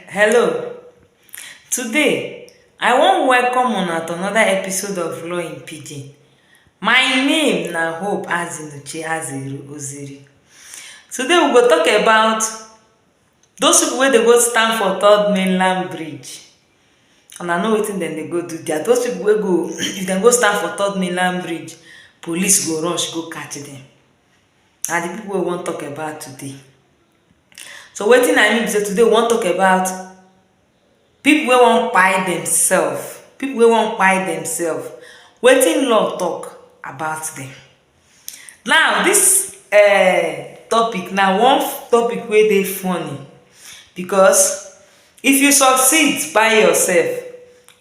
Hello, today I wan welcome una to another episode of Law in Pidgin. My name na Hope Azinuche Aziru Oziri. Today we go talk about those people wey dey go stand for third mainland bridge. Una know wetin dem dey go do there. Those people wey go if dem go stand for third mainland bridge, police go rush go catch dem. Na the people wey we wan talk about today. So wetin I mean be sey today we wan talk about pipu wey wan kpai themselves, pipu wey wan kpai themselves, wetin law talk about dem. Now dis um topic na one topic wey dey funny because if you succeed kpai yourself,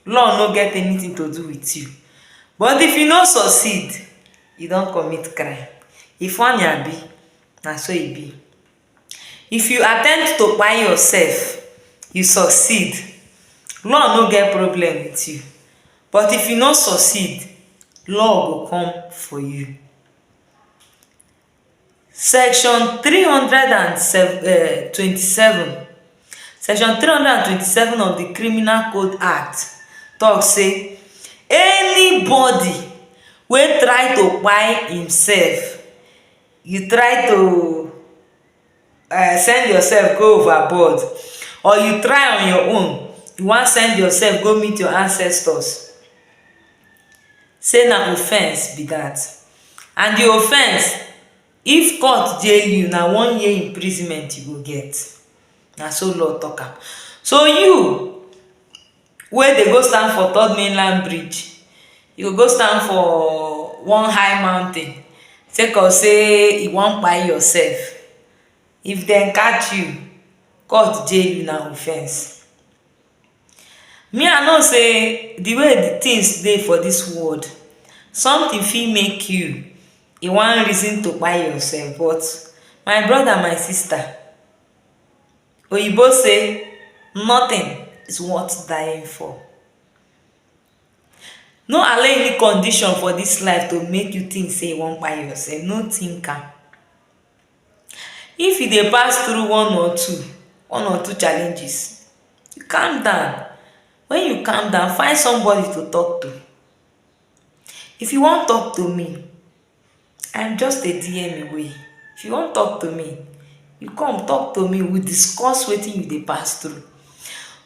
law no get anything to do with you but if you no succeed, you don commit crime. E funny abi? na so e be if you attempt to kpai yourself you succeed law no get problem with you but if you no succeed law go come for you section three hundred and seven um twenty seven section three hundred and twenty seven of the criminal code act talk say anybody wey try to kpai himself you try to uh, send yourself go overboard or you try on your own you wan send yourself go meet your ancestors say na offence be that and the offence if court jail you na one year imprisonment you go get na so law talk am so you wey dey go stand for third mainland bridge, e go go stand for one high mountain sake of sey you wan kpai yourself. If dem catch you, court jail you na offence. Me I know sey the way the things dey for dis world, something fit make you e wan reason to kpai yourself but my brother, my sister, Oyibo say nothing is worth dying for. No allow any condition for this life to make you think say you wan kpai yourself, no think am. If you dey pass through one or two, one or two challenges, calm down. When you calm down, find somebody to talk to. If you wan talk to me, i am just a dm away if you wan talk to me you come talk to me we discuss wetin you dey pass through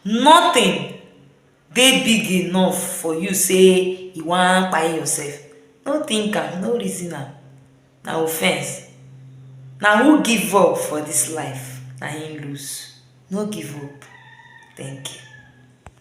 nothing dey big enough for you say you wan kpai yourself no think am no reason am na offense na who give up for this life na him lose no give up thank you